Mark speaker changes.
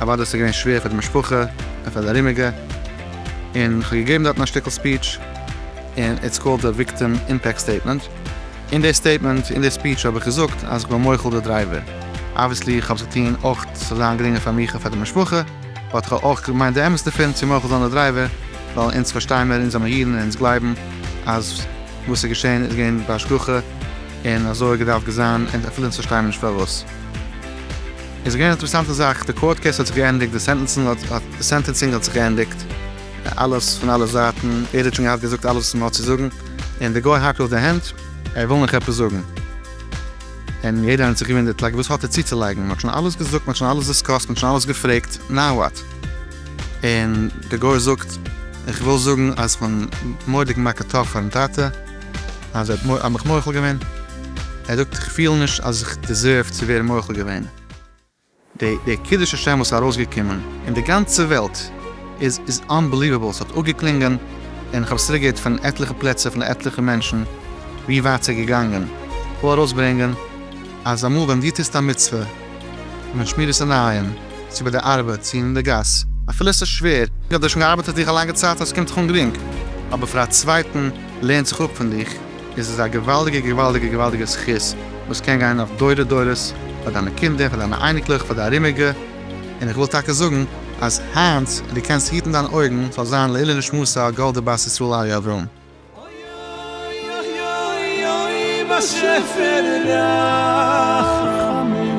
Speaker 1: אוודאי איז עס געווען שווער פאר די משפחה און פאר די ארומיגע, און כ'האב געגעבן דארטן א שטיקל ספיטש, און איטס קאלד די וויקטים אימפעקט סטעיטמענט, אין די סטעיטמענט, אין די ספיטש האב איך געזאגט אז כ'בין מוחל די דרייווער, אבוויעסלי כ'האב עס געטון אויך צו ס'זאל זיין גרינגער פאר מיך און פאר די משפחה, באט כ'האב אויך געמיינט די אמת דערפון צו מוחל זיין די דרייווער, ווייל אונז פארשטיי מיר, אונז זעמער אידן און אונז גלייבן אז וואס ס'איז געשען איז געווען בהשגחה און אזוי האט געדארפט געזיין און אפילו אונז פארשטייען נישט פארוואס. איז געווען א אינטערעסאנטע זאך, די קאורט קעיס האט זיך געענדיגט, די סענטענסינג האט זיך געענדיגט, אלעס פון אלע זייטן, ער האט שוין געהאט געזאגט אלעס וואס מען האט צו זאגן, און די גוי האקט אויף די הענט, ער וויל נאך עפעס זאגן, און יעדער האט זיך געוואונדערט לייק וואס האט ער צוצולייגן, מען האט שוין אלעס געזאגט, מען האט שוין אלעס דיסקאסט, מען האט שוין אלעס געפרעגט, נאו וואט? און די גוי זאגט, איך וויל זאגן אז איך בין מורא'דיג מכה טאף פארן טאטע. אז ער האט מ א מיך מוחל געווען, ער זאגט איך פיל נישט אז איך דיזערוו צו ווערן מוחל געווען, די די קידוש השם וואס איז ארויסגעקומען אין די גאנצע וועלט איז איז אנבעליוועבל, עס האט אפגעקלינגען, און איך האב עס צוריק געהערט פון עטליכע פלעצער פון עטליכע מענטשן ווי ווייט ס'איז געגאנגען, כ'וויל ארויסברענגען אז אמאל ווען דו טוסט א מצוה, און מען שמירט עס אינאיין, צו ביי די ארבעט, צו אין די גאס, אפילו עס איז שווער, און דו האסט שוין געארבעט אויף דיך א לאנגע צייט און עס קומט דיך אן גרינג, אבער פאר א צווייטן. לערנט זיך אפ פון דיך, איז עס א געוואלדיגע געוואלדיגע געוואלדיגע זכות וואס קען גיין אויף דורי דורות, פאר דיינע קינדער, פאר דיינע אייניקלעך, פאר די ארומיגע, און איך וויל טאקע זאגן אז היינט דו קענסט היטן דיין אויגן ס'זאל זיין לעילוי נשמתה גאלדע בת ישראל אריה אברהם. אוי אוי אוי אוי
Speaker 2: באשעפער רחמים.